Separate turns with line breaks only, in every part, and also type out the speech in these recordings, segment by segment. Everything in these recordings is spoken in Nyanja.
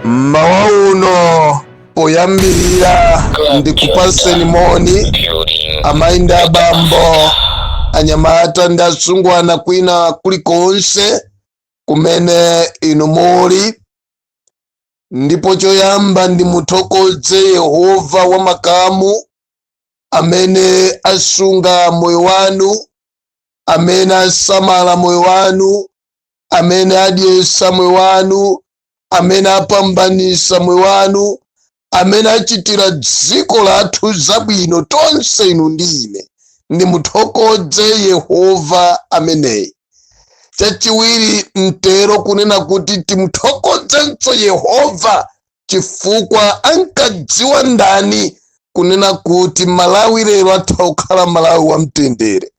mmawa uno poyambirira ndikupaseni moni amayi ndi abambo anyamata ndi asungwana kwina kulikonse kumene inu muli ndipo choyamba ndimuthokoze yehova wa makamu amene asunga moyo wanu amene asamala moyo wanu amene adyesa moyo wanu amene apambanisa moyo wanu amene achitira dziko lathu zabwino tonse inu ndi ine ndimuthokodze yehova ameneyi chachiwiri nditero kunena kuti timuthokodzenso yehova chifukwa ankadziwa ndani kunena kuti malawi lero atha kukhala malawi wamtendere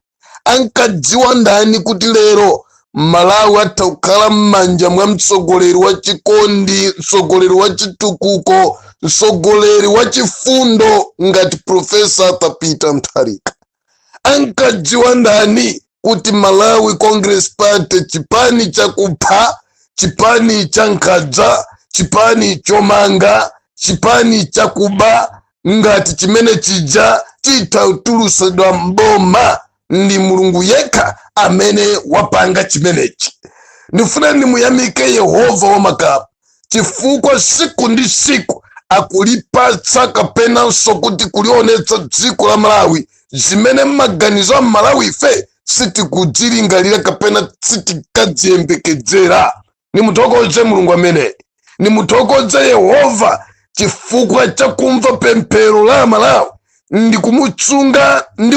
ankadziwa ndani kuti lero malawi atha kukhala m'manja mwa mtsogoleri wa chikondi mtsogoleri wa chitukuko mtsogoleri wa chifundo ngati profesa arthur peter mutharika ankadziwa ndani kuti malawi congress party chipani chakupha chipani cha nkhanza chipani chomanga chipani chakuba ngati chimene chija chitha kutulusidwa mboma ndi mulungu yekha amene wapanga chimenechi ndifuna ndimuyamike yehova wamakamu chifukwa siku ndi siku akulipatsa kapenanso kuti kulionetsa dziko la malawi zimene m'maganizo a malawi ife sitikudzilingalira kapena sitikadziyembekedzera ndimuthokoze mulungu amene ndimuthokoze yehova chifukwa cha kumva pemphero la amalawi ndi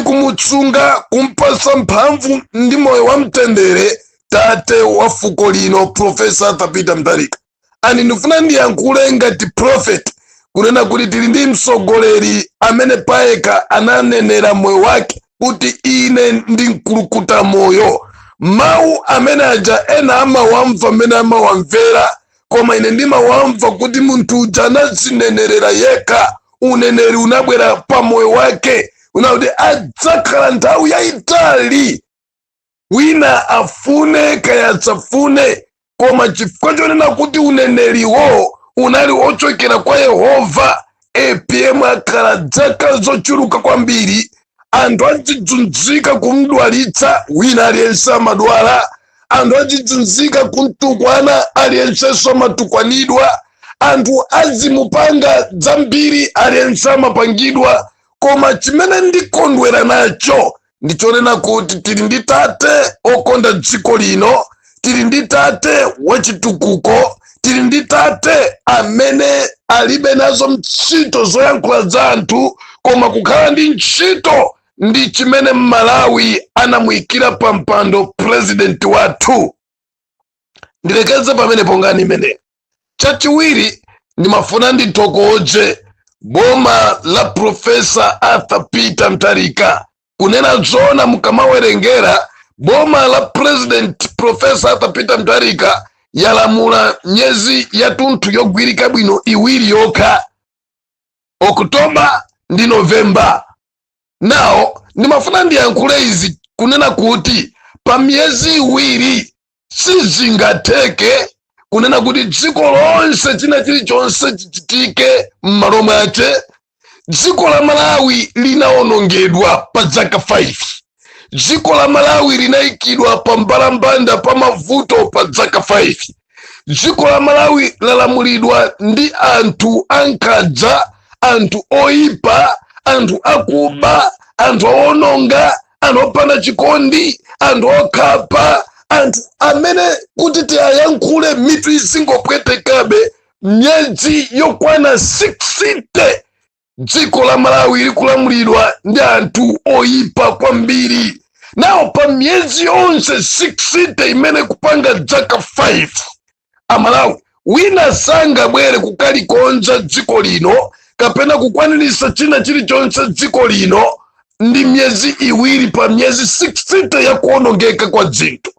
kumutsunga kumpasa mphamvu ndi moyo wa mtendere tate wa fuko lino profesa arthur peter mutharika ani ndifuna ndiyankhule ngati prophet kunena kuti tili ndi mtsogoleri amene payekha ananenera moyo wake kuti ine ndi mkulukuta moyo mawu amene aja ena amawamva mmene amawamvera koma ine ndimawamva kuti munthu uja anazinenerera yekha uneneri unabwera pa moyo wake onena kuti adzakhala nthawi yayitali wina afune kaya asafune koma chifukwa chonena kuti uneneriwo unali ochokera kwa yehova apm akhala dzaka zochuluka kwambiri anthu azidzunzika kumdwalitsa wina aliyense amadwala anthu azidzunzika kumtukwana aliyensenso amatukwanidwa anthu azimupanga zambiri aliyense amapangidwa koma chimene ndikondwera nacho ndichonena kuti tili ndi tate okonda dziko lino tili ndi tate wachitukuko tili ndi tate amene alibe nazo ntchito zoyankhula za anthu koma kukhala ndi ntchito ndi chimene mmalawi anamuyikira pa mpando purezidenti wathu ndilekeze pamene pa nkhani imeneyi chachiwiri ndimafuna ndithokoze boma la profesa arthur peter mtarika kunena zona mukamawerengera boma la president profesa arthur peter mtarika yalamula miyezi yatunthu yogwirika bwino iwiri yokha oktoba ndi novemba nawo ndimafuna ndiyankhule izi kunena kuti pa miyezi iwiri sizingatheke kunena kuti dziko lonse china chilichonse chichitike m'malo mwache dziko la malawi linawonongedwa pa zaka 5 dziko la malawi linayikidwa pa mbalambanda pa mavuto pa zaka 5 dziko la malawi lalamulidwa ndi anthu ankhanza anthu oyipa anthu akuba anthu owononga anthu opanda chikondi anthu okhapa anthu amene kuti tiyayankhule mitu izingopwetekabe myezi yokwana 60 dziko la malawi likulamulidwa ndi anthu oyipa kwambiri nawo pa myezi yonse 60 imene kupanga dzaka 5 amalawi wina sangabwere kukalikonza dziko lino kapena kukwanirisa china chilichonse dziko lino ndi myezi iwiri pa myezi 60 ya kuonongeka kwa dzinthu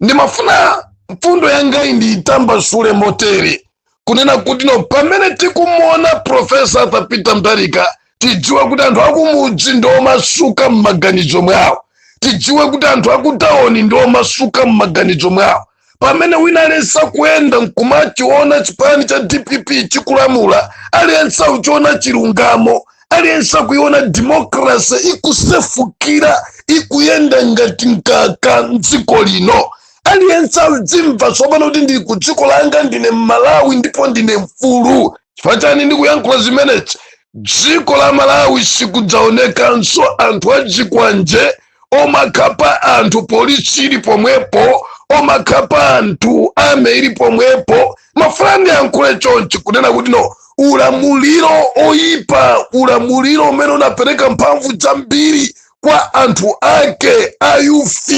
ndimafuna mfundo yangayi ndiyitambasule motere kunena kuti no pamene tikumuona profesa arthur peter mutharika tidziwe kuti anthu akumudzi ndi omasuka m'maganizo mwawo tidziwe kuti anthu akutawoni ndi omasuka m'maganizo mwawo pamene wina aliyense akuyenda nkumachiona chipani cha dpp chikulamula aliyense akuchiona chilungamo aliyense akuiona demokrasi ikusefukira ikuyenda ngati mkaka mdziko lino aliyense akudzimva tsopano kuti ndili ku dziko langa ndine mmalawi ndipo ndine mfulu chifukwa chani ndikuyankhula zimenezi dziko la malawi sikudzaonekanso anthu azikwanje omakhapa anthu polisi ili pomwepo omakhapa anthu army ili pomwepo ndimafuna ndiyankhule chonchi kunena kuti no ulamuliro oyipa ulamuliro umene unapereka mphamvu zambiri kwa anthu ake a youth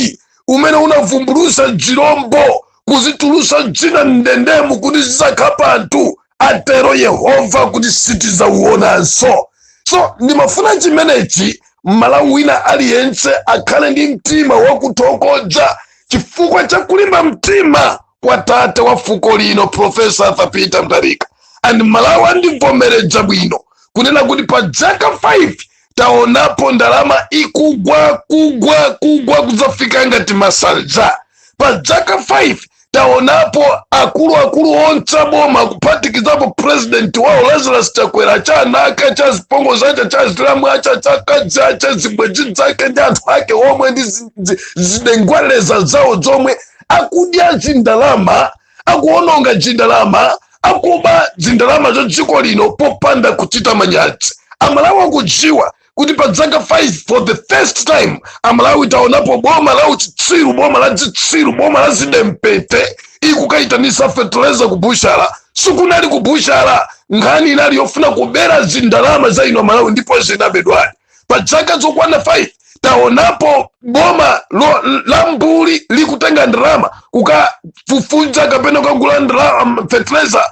umene unavumbulusa zilombo kuzitulusa zina mndendemu kuti zizakhapa anthu atero yehova kuti sitizauonanso so ndimafuna chimenechi mmalawi wina aliyense akhale ndi mtima wakuthokoza chifukwa cha kulimba mtima kwa tate wa fuko lino profesa arthur peter mutharika and malawi andivomereza bwino kunena kuti pa dzaka 5 taonapo ndalama ikugwa kugwa kugwa kudzafika ngati masanza pa dzaka 5 taonapo akuluakulu onse boma kuphatikizapo purezidenti wawo lazarus chakwera achiana ake achazipongozi ace achazilamu ace achakadzi ace zibwenzi zake ndi anthu ake omwe ndi zi- zi- zidengwaleza zawo zomwe akudya zindalama akuononga zindalama akuba zindalama za dziko lino popanda kuchita manyazi amalawi akudziwa kuti pa dzaka 5 for the first time amalawi taonapo boma la uchitsiru boma la dzitsiru boma la zidempete ikukayitanisa feteleza ku butchala sikunali ku butchala nkhani inali yofuna kubera zindalama za inu amalawi ndipo zinabedwadi pa dzaka zokwana 5 taonapo boma lo, la mbuli likutenga ndalama kukafufuza kapena kukagula ndalama um, fertilizer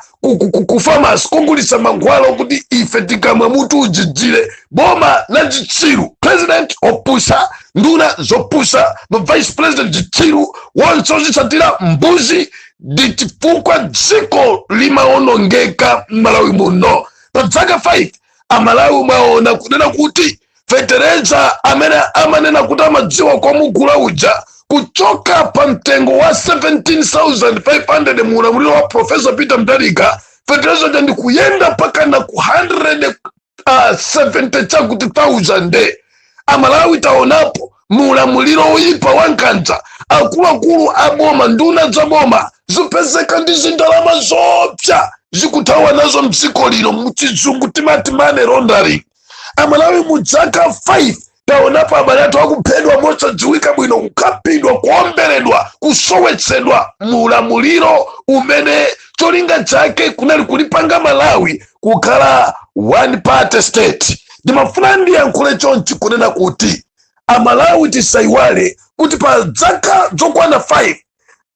ku famasi kogulisa mankhwala okuti ife tikamwa mutu uzizire boma la zitsiru president opusa nduna zopusa ma vice president zitsiru wonse ozitsatira mbuzi ndi chifukwa dziko limaonongeka m'malawi muno pa dzaka 5 amalawi mwaona kunena kuti fetereza amene amanena kuti amadziwa komugula uja kuchoka pa mtengo wa 17500 mu ulamuliro wa profesa peter mutharika fetereza uja ndi kuyenda mpaka na ku 100 uh, 70 chakuti 1000 amalawi taonapo mu ulamuliro woyipa wa nkhanza akuluakulu a boma nduna za boma zikupezeka ndi zindalama zopsa zikuthawa nazo mdziko lino muchizungu timati money laundering amalawi mu dzaka 5 taonapo abale athu akuphedwa mosadziwika bwino kukhapidwa kuomberedwa kusowetsedwa mu ulamuliro umene cholinga chake kunali kulipanga malawi kukhala one party state ndimafuna ndiyankhule chonchi kunena kuti amalawi tisayiwale kuti pa zaka zokwana 5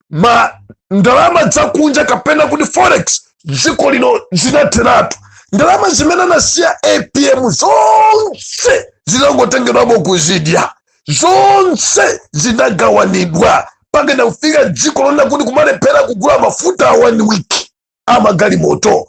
ma ndalama zakunja kapena kuti forex dziko lino zinatheratu ndalama zimene anasiya apm zonse zinangotengedwamo kuzidya zonse zinagawanidwa mpakana kufika dziko lonena kuti kumalephera kugula mafuta a one week amagalimoto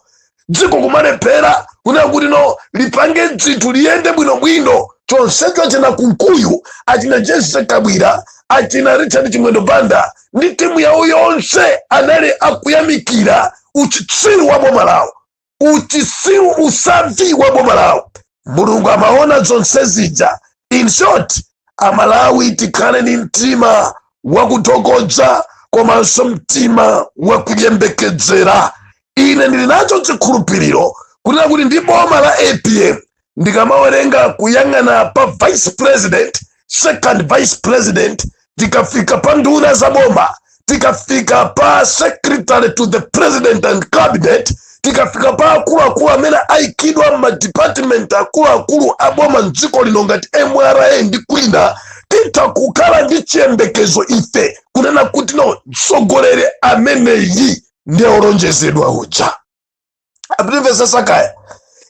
dziko kumalephera kunena kuti no lipange dzinthu liyende bwinobwino chonsecho achina kunkuyu achina jese kabwira achina richard chimwendo banda ndi timu yawo yonse anali akuyamikira uchitsiru wa boma lawo uchitsiru usavi wa boma lawo mulungu amaona zonse zija in short amalawi tikhale ni mtima wakuthokoza komanso mtima wakuyembekezera ine ndili nacho chikhulupiriro kunena kuti ndi boma la apm ndikamawerenga kuyang'ana pa vice president second vice president tikafika pa nduna za boma tikafika pa secretary to the president and cabinet tikafika pa akuluakulu amene aikidwa m'madipatimenti akuluakulu a boma mdziko lino ngati mra ndi kwina titha kukhala ndi chiyembekezo ife kunena kuti no mtsogoleri ameneyi ndiye olonjezedwa uja akundimvetsetsa kaya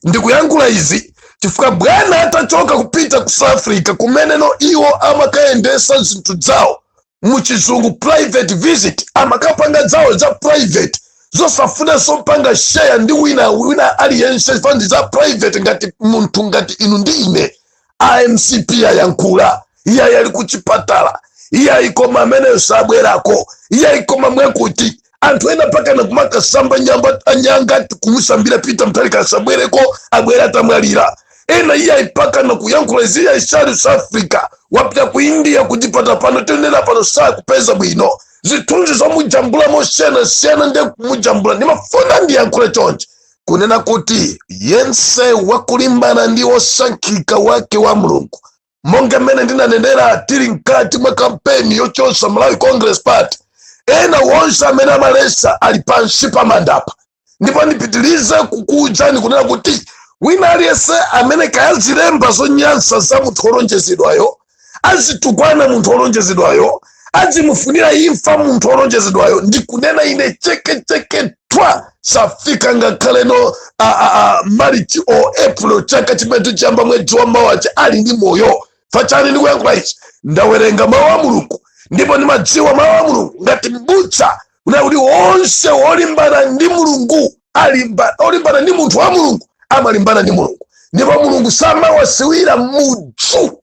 ndikuyankhula izi chifukwa bwana atachoka kupita ku south africa kumeneno iwo amakayendesa zinthu zawo muchizungu private visit amakapanga zawo za private zosafunanso kupanga share ndi wina wina aliyense chifukwa ndi za private ngati munthu ngati inu ndi ine a mcp ayankhula iyayi ali ku chipatala iyayi koma ameneyo sabwerako iyayi koma mwakuti anthu ena pakana kumakasamba nyanga kumusambira peter mutharika asabwereko abwere atamwalira ena iyayi pakana kuyankhula izi iyayi sali ku south africa wapita ku india kuchipatala pano tenera pano sakupeza bwino zithunzi zomujambula mosiyanasiyana nde kumujambula ndimafuna ndiyankhule chonchi kunena kuti yense wakulimbana ndi wosankhika wake wa mulungu monga mmene ndinanenera tili mkati mwa kampeni yochotsa malawi congress party ena wonse amene amayesa ali pansi pa manda pano ndipo ndipitilize kukuwuzani kunena kuti wina aliyense amene kaya azilemba zonyansa za munthu wolonjezedwayo azitukwana munthu olonjezedwayo azimufunira imfa munthu olonjezedwayo ndikunena ine chekecheke twa safika ngakhale no marichi o april chaka chimene chiyamba mwezi wa mawawu ali ndi moyo chifukwa chani ndikuyankhula ichi ndawerenga mawu a mulungu ndipo ndimadziwa mawu a mulungu ngati m'busa kunena kuti onse olimbana ndi mulungu olimbana ndi munthu wa mulungu amalimbana ndi mulungu ndipo mulungu samawasiwira mudzu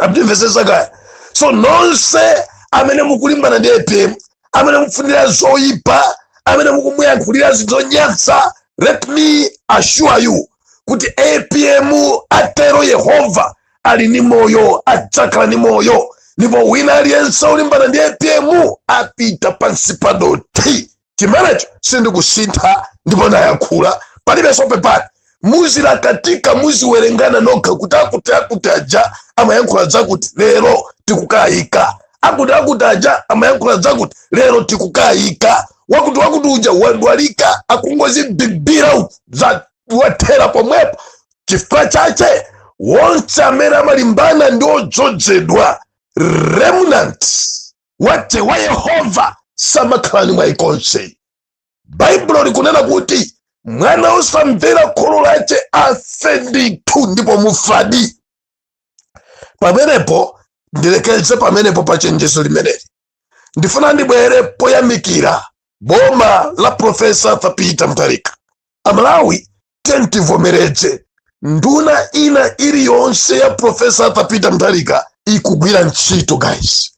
akundimvetsetsa kaya so nonse amene mukulimbana ndi apm amene mumufunira zoyipa amene mukumuyankhulira zinthu zonyansa let me assure you kuti apm atero yehova ali ndi moyo adzakhala ndi moyo ndipo wina aliyense olimbana ndi apm apita pansi pa dothi chimenecho sindikusintha ndipo ndayakhula palibenso pepani muzilakatika muziwerengana nokha kuti akuti akuti aja amayankhula zakuti lero tikukayika akuti akuti aja amayankhula zakuti lero tikukayika wakuti wakuti uja wadwalika akungozibibira uku zawathera pomwepo chifukwa chache wonse amene amalimbana ndi odzozedwa remnant wache wa yehova samakhala ni mwayi konse baibulo likunena kuti mwana osamvera kholo lache afe ndithu ndipo mufadi pamenepo ndilekeze pamenepo pa chenjezo limeneli ndifuna ndibwere poyamikira boma la profesa arthur peter mutharika amalawi tiyeni tivomereze nduna ina iliyonse ya profesa arthur peter mutharika ikugwira ntchito guys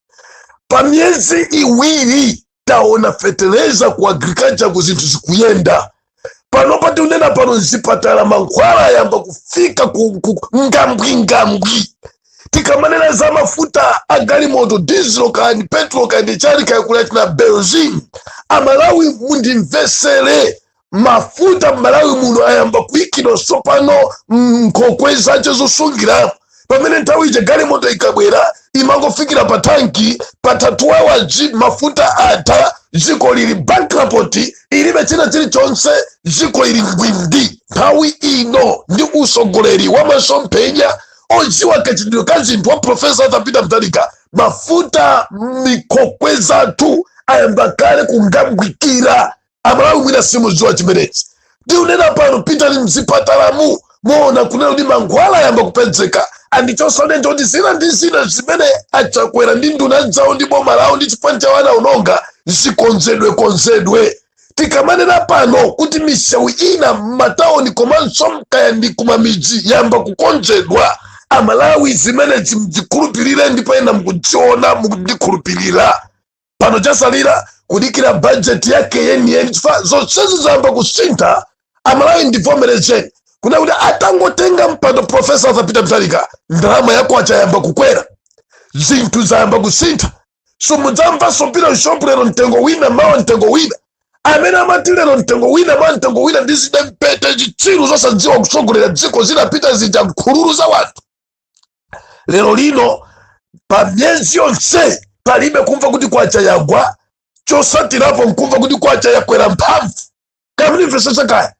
pa miyezi iwiri taona feteleza ku agriculture ku zinthu zikuyenda panopa tikunena pano mzipatala mankhwala ayamba kufika ku- ku- ngambwingambwi tikamanena za mafuta a galimoto diesel kani petro kani chani kaya kuli china benzin amalawi mundimvesere mafuta mmalawi muno ayamba kuikidwa sopano mnkhokwe zace zosungiramo pamene nthawi ija galimoto ikabwera imangofikira pa tanki patha 2 hours mafuta atha dziko lili bankrupt ilibe china chilichonse dziko lili ngwindi nthawi ino ndi usogoleri wa masomphenya odziwa kachitidwe ka zinthu wa profesa arthur peter mutharika mafuta mnkhokwe zathu ayamba kale kungambwikira amalawi mwina simuziwa chimenechi ndikunena pano pitani mzipatalamu muona kunena kuti mankhwala ayamba kupedzeka and chonsecho ndikuti zina ndi zina zimene achakwera ndi nduna dzawo ndi boma lawo ndi chipani chawo anaononga zikonzedwe konzedwe tikamanena pano kuti misewu ina m'matawuni komanso nkaya ndi kumamidzi yayamba kukonzedwa amalawi zimenezi mzikhulupirire ndipo ena mukudziona mukundikhulupirira pano chasalira kudikira bajeti yake yeniyeni chifukwa zonsezi zayamba kusintha amalawi ndivomerezeni kuna kuti atangotenga mpando profesa arthur peter mutharika ndalama ya kwacha yayamba kukwera zinthu zayamba kusintha simudzamvanso pita mshopu lero mtengo wina mawa mtengo wina amene amati lero mtengo wina mawa mtengo wina ndi zidempete chitsiru zosadziwa kutsogolera dziko zinapita zija nkhululu za wanthu lero lino pa miyezi yonse palibe kumva kuti kwacha yagwa chosatirapo nkumva kuti kwacha yakwera mphamvu kamvetsetsa kaya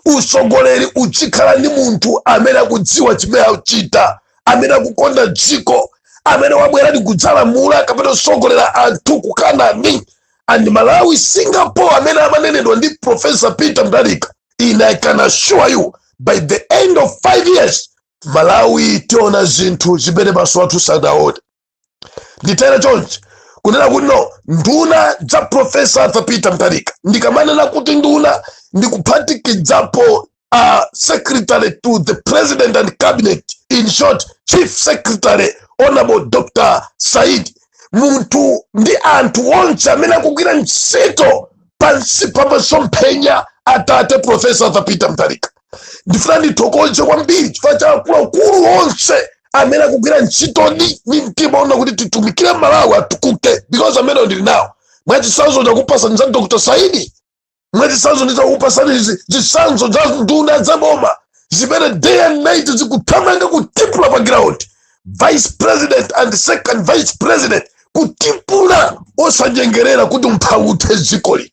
usogoleri uchikhala ndi munthu amene akudziwa chimene akuchita amene akukonda dziko amene wabwera ndi kudzalamula kapena kusogolera anthu ku kanani and malawi singapore amene amanenedwa ndi profesa peter mutharika and i can assure you by the end of five years malawi tiona zinthu zimene maso athu sadaone nditera chonchi kunena kuti no nduna za profesa arthur peter mutharika ndikamanena kuti nduna ndikuphatikizapo a secretary to the president and cabinet in short chief secretary honorable dr saidi munthu ndi anthu onse amene akugwira ntchito pansi pa masomphenya atate profesa arthur peter mutharika ndifuna ndithokoze kwambiri chifukwa cha akuluakulu onse amene akugwira ntchito ndi ndi mtima ona kuti titumikire malawi atukuke because amene ndili nawo mwachitsanzo ndakupatsani za dr saidi mwachitsanzo ndakupatsani zitsanzo za nduna za boma zimene day and night zikuthamanga kutipula pa ground vice president and second vice president kutipula osanyengerera kuti umphawi uthe dzikoli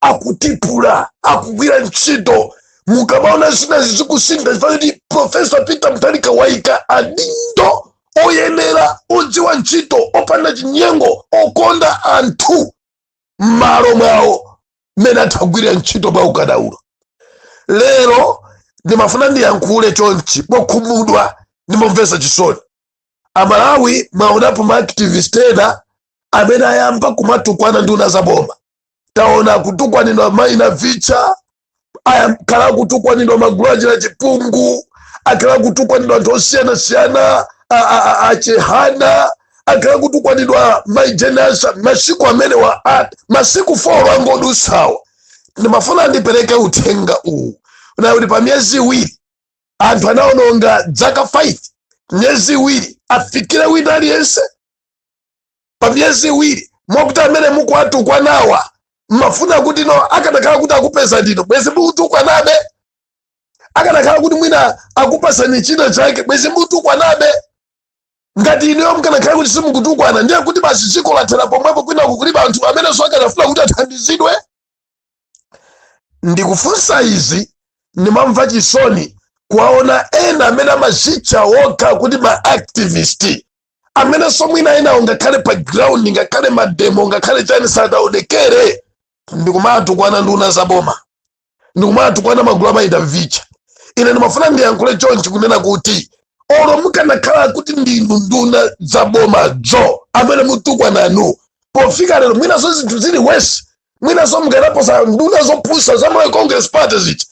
akutipula akugwira ntchito mukamaona zina zikusintha chifukwa kuti profesa peter mutharika waika adindo oyenera odziwa ntchito opanda chinyengo okonda anthu m'malo mwawo mmene athe kugwira ntchito mwa ukadaulo lero ndimafuna ndiyankhule chonchi mokhumudwa ndi momvetsa chisoni amalawi mwaonapo maaktivist ena amene ayamba kumatukwana nduna za boma taona kutukwanidwa mai navicha akhala akutukwanidwa magulu achira chipungu akhala akutukwanidwa anthu osiyanasiyana a- a- a- achihana akhala akutukwanidwa mai jane ansah masiku amenewa ati masiku folo angodutsawa ndimafuna ndipereke uthenga uwu kunena kuti pa miyezi iwiri anthu anaononga dzaka 5 miyezi iwiri afikire wina aliyense pa miyezi iwiri mwakuti amene mukuwatukwanawa mmafuna kuti no akanakhala kuti akupezani inu bwezi mukutukwanabe akanakhala kuti mwina akupatsani china chake bwezi mukutukwanabe ngati inuyo mkanakhala kuti simukutukwana ndiye kuti basi dziko lathera pomwepo kwina kulibe anthu amenenso akanafuna kuti athandizidwe ndikufunsa izi ndimamva chisoni kuwaona ena amene amazitcha wokha kuti ma activist amenenso mwina enawo ngakhale pa ground ngakhale mademo ngakhale chani sadaonekere ndikumatukwana nduna za boma ndikumatukwana magulu a Mary Navicha ine ndimafuna ndiyankhule chonchi kunena kuti olo mukanakhala kuti ndinu nduna za bomazo amene mutukwananu pofika lero mwinanso zinthu zili wesi mwinanso mukanaposa nduna zopusa za malawi congress party zija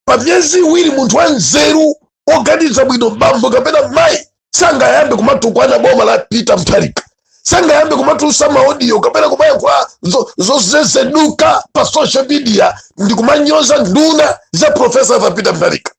pa miyezi iwiri munthu wa nzeru oganiza bwino bambo kapena mayi sangayambe kumatukwana boma la peter mutharika sangayambe kumatulutsa maodiyo kapena kumayankhula zo- zozezeduka pa social media ndi kumanyoza nduna za profesa Arthur peter mutharika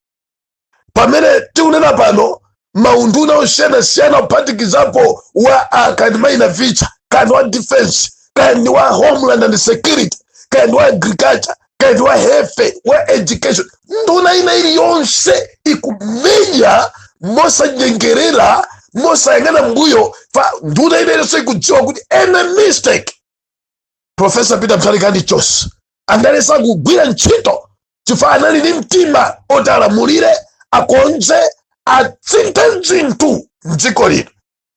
pamene tikunena pano maunduna osiyanasiyana kuphatikizapo wa kandi mai Navicha kandi wa defense kandi wa homeland and security kandi wa agriculture kandi wa health wa education nduna ina iliyonse ikumenya mosanyengerera mosayang'ana mbuyo fa nduna ina iliyonse ikudziwa kuti any mistake profesa peter mutharika andichosa ndalesa kugwira ntchito chifukwa anali ndi mtima oti alamulire akonze asinthe zinthu mdziko lino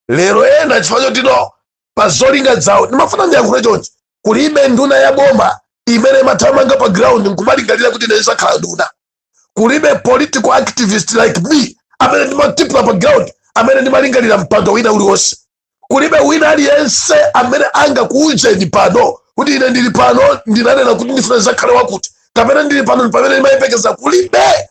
lero ena chifukwa choti no pa zolinga zawo ndimafuna ndiyankhule chonchi kulibe nduna ya boma imene imathamanga pa ground nkumalingalira kuti ine ndizakhala nduna kulibe political activist like me amene ndimatipula pa ground amene ndimalingalira mpando wina uliwonse kulibe wina aliyense amene angakuuzeni pano kuti ine ndili pano ndinanena kuti ndifuna ndizakhale wakuti kapena ndili pano ndi pamene ndimayembekeza kulibe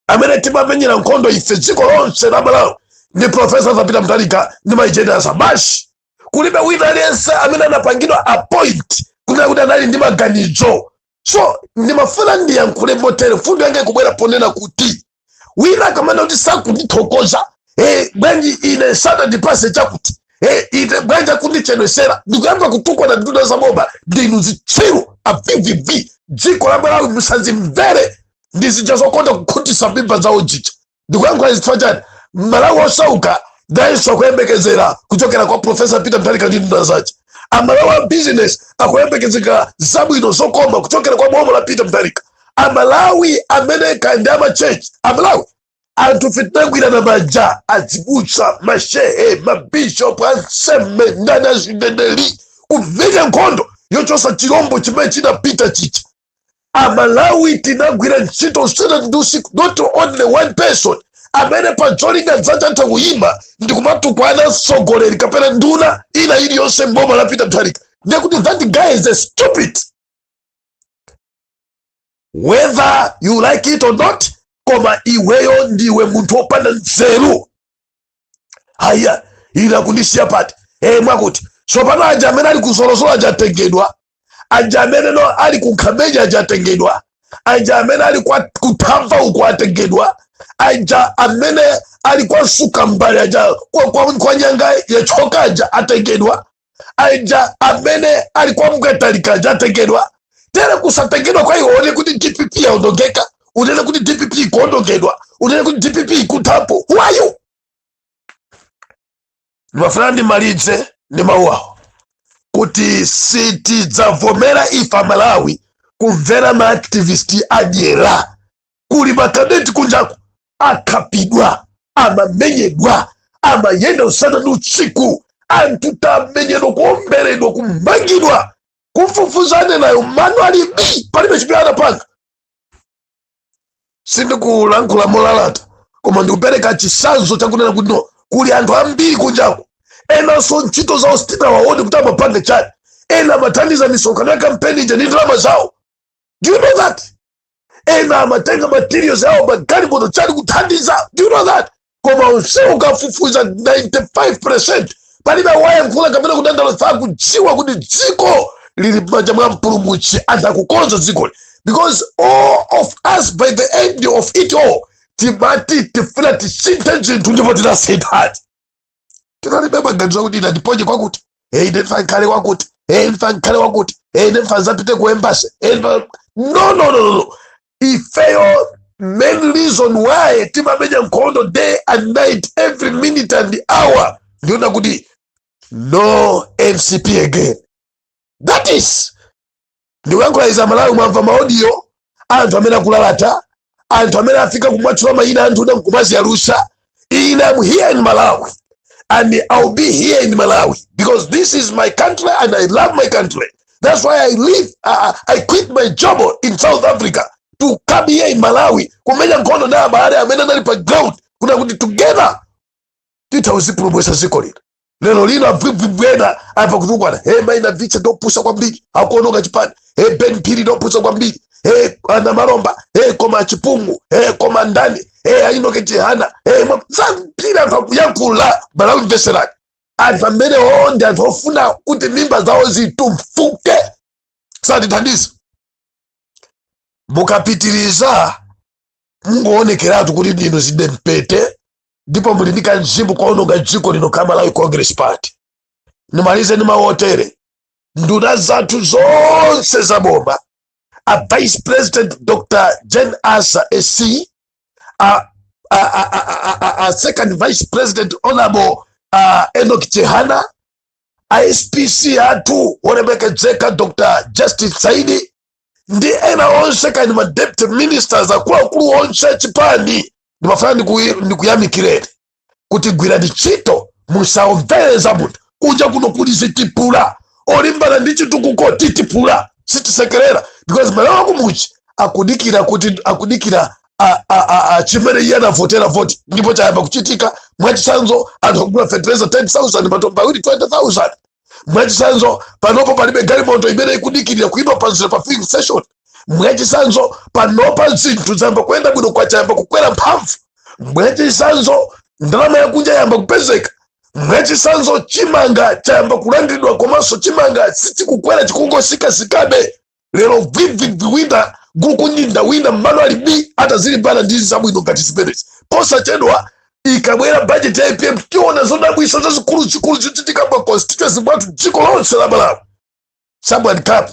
amene timamenyera nkhondo ife dziko lonse la malawi ndi profesa Arthur Peter Mutharika ndi mai Jane Ansah basi kulibe wina aliyense amene anapangidwa appoint kunena kuti anali ndi maganizo so ndimafuna ndiyankhule motere mfundo yanga ikubwera ponena kuti wina akamanena kuti sakundithokoza eh, bwanji ine sanandipase chakuti eh, ine bwanji akundichedwetsera ndikuyamba kutukwana nduna za boma ndinu zitsiru a vvv dziko la malawi musazimvere ndi zija zokonda kukhutisa mimba zawo zija ndikuyankhula izi chifukwa chani mmalawi osauka nayenso akuyembekezera kuchokera kwa profesa peter mutharika ndi nduna zace amalawi a business akuyembekezeka zabwino zokoma kuchokera kwa boma la peter mutharika amalawi amene kandi amachechi amalawi anthu fe tinagwirana manja azibusa mashehe mabishop ansembe ndani azineneri kumenya nkhondo yochosa chilombo chimene chinapita chija amalawi tinagwira ntchito usana ndi usiku not only one person amene pa cholinga dzake atha kuyima ndi kumatukwana mtsogoleri kapena nduna ina iliyonse mboma la peter mutharika ndiye kuti that guy is a stupid whether you like it or not koma iweyo ndiwe munthu wopanda nzeru haya ina kundisiya pati e mwakuti tsopano aja amene ali kuzolozolo aja atengedwa aja amene no ali kukhamenya aja atengedwa aja amene ali kwa kuthamva uko atengedwa aja amene ali kwa msukambali aja kwa, kwa, kwa nyanga yachoka aja atengedwa aja amene ali kwa mkatalika aja atengedwa tere kusatengedwa kwa iwowo unene kuti dpp yaondongeka unene kuti dpp ikuondongedwa unene kuti dpp ikuthapo who are you ndimafuna ndimalize ndi mawu awo kuti sitidzavomera ife amalawi kumvera maaktivisti adyera kuli makadeti kunjaku akhapidwa amamenyedwa amayenda usana ndi usiku anthu tamenyedwa kuomberedwa kumangidwa kufufuza anenawo mano ali bi palibe chimene anapanga sindikulankhula molalata koma ndikupereka chisanzo chakunena kuti no kuli anthu ambiri kunjako enanso ntchito zawo sitinawaone kuti amapanga chani ena amathandiza misonkhano ya kampeni ija ndi ndalama zawo do you know that ena amatenga materials awo magalimoto chani kuthandiza do you know that koma onsewo ukafufuza 95 percent palibe wayankhula kapena kudandaula akudziwa kuti dziko lili m'manja mwa mpulumutsi akukonza dzikoli because all of us by the end of it all timati tifuna tisinthe zinthu ndipo tinasinthadi tinalibe maganizo akuti ine andiponye kwakuti e ine ndifa nkhale kwakuti e ndifa nkhale kwakuti e ine ndifa nzapite ku embasi e ndifa no no no no no ifeyo main reason why timamenya nkhondo day and night every minute and hour ndi yonena kuti no mcp again that is ndikuyankhula izi amalawi mwamva maodiyo anthu amene akulalata anthu amene afika kumwatchula mayina anthu nkumaziyalusa ine am here in malawi and i'll be here in malawi because this is my country and i love my country that's why i live i, I quit my job in south africa to come here in malawi kumenya nkhondo na abale amene anali pa ground kunena kuti together tithe kulipulumutsa ziko lino lero lino abvwibvwibwi ena ayamba kutukwana he mai navicha ndopusa kwambiri akuononga chipani he ben phiri ndopusa kwambiri he anamalomba he koma achipungu he koma ndani he a enock chihana he mwa- zambiri anthu akuyankhula malawi mveserani anthu amenewo ndi anthu ofuna kuti mimba zawo zitumfuke satithandiza mukapitiriza mungowonekeratu kuti ndinu zidempete ndipo muli ndi kamzimu koononga dziko lino ka malawi congress party ndimalize ndi mawu otere nduna zathu zonse za boma a vice president dr jane ansah sc a, a, a, a, a, a, a second vice president honorable uh, enock chihana a spc athu wolemekezeka dr justin saidi ndi ena onse kani ma deputy ministers akuluakulu onse achipani ndimafuna ndiku- ndikuyamikireni kuti gwirani ntchito musamvere za munthu kunja kuno kuli zitipula olimbana ndi chitukuko titipula sitisekerera because mmalawi wakumudzi akudikira kuti akudikira a- a- a- a- chimene iye anavotera voti ndipo chayamba kuchitika mwachitsanzo anthu akugula fertilizer 10000 matumba awiri 20000 mwachisanzo panopo palibe galimoto imene ikudikirira kuyima panzira pa filling station mwachisanzo panopa zinthu zayamba kuyenda bwino kwacha yayamba kukwera mphamvu mwachisanzo ndalama yakunja yayamba kupezeka mwachisanzo chimanga chayamba kulandiridwa komanso chimanga sichikukwera chikungosikasikabe lero bvwibvwibvwi wina gukunyinda wina mmalo alibe atazilimbana ndi zabwino ngati zimenezi posachedwa ikabwera bajeti ya apm tiona zodabwisa zazikuluzikulu zochitika pa constituency mwathu dziko lonse la malawi someone come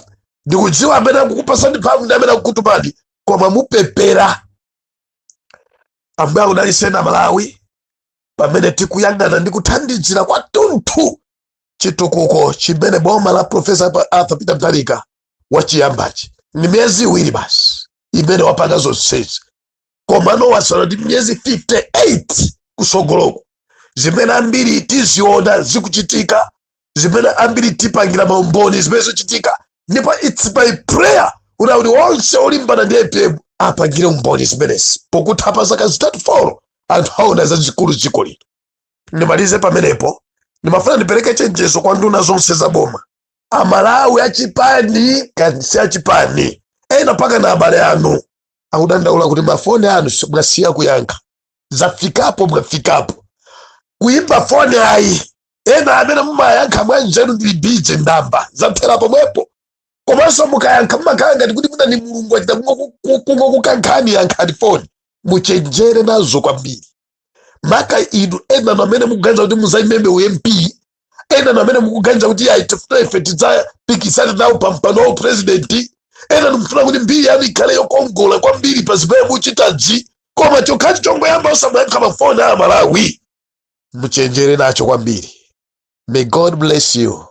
ndikudziwa amene akukupasani mphamvu ndi amene akukutumani koma mupepera ambuye akudaliseni amalawi amene tikuyang'anira ndi kuthandizira kwathunthu chitukuko chimene boma la profesa arthur peter mutharika wachiyambachi ndi miyezi iwiri basi imene wapanga zonsezi komano wasala ndi miyezi 58 kusogoloko zimene ambiri tiziona zikuchitika zimene ambiri tipangira maumboni zimene zichitika ndipo its my prayer kuti akuti onse olimbana ndi apm apangire umboni zimenezi pokutha pa zaka zitatu folo anthu aona zazikulu dziko lino ndimalize pamenepo ndimafuna ndipereke chenjezo kwa nduna zonse za boma amalawi achipani kani si achipani ena mpaka na abale anu akudandaula kuti mafoni anu si- mwasiya kuyankha zafikapo mwafikapo kuimba foni ayi ena amene mumayankha mwanjiru ndili bize ndimba zathera pomwepo komanso mukayankha mumakhala ngati kuti mwina ndi mulungu achita kungokukankhani yankhani foni muchenjere nazo kwambiri maka inu ena amene mukuganiza kuti muzaimenso u mp ena amene mukuganiza kuti ayi tifuna ife tidzapikisane nawo pa mpando wa uprezidenti ena mukufuna kuti mbiri yanu ikhale yokongola kwambiri pa zimene muchitazi koma chokhacho chongoyamba osamayankha mafoni a amalawi muchenjere nacho kwambiri may god bless you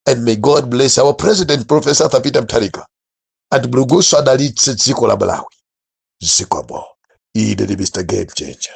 and may god bless our president professor arthur peter mutharika and mulungunso adalitse dziko la malawi zikomo ine ndi mr game changer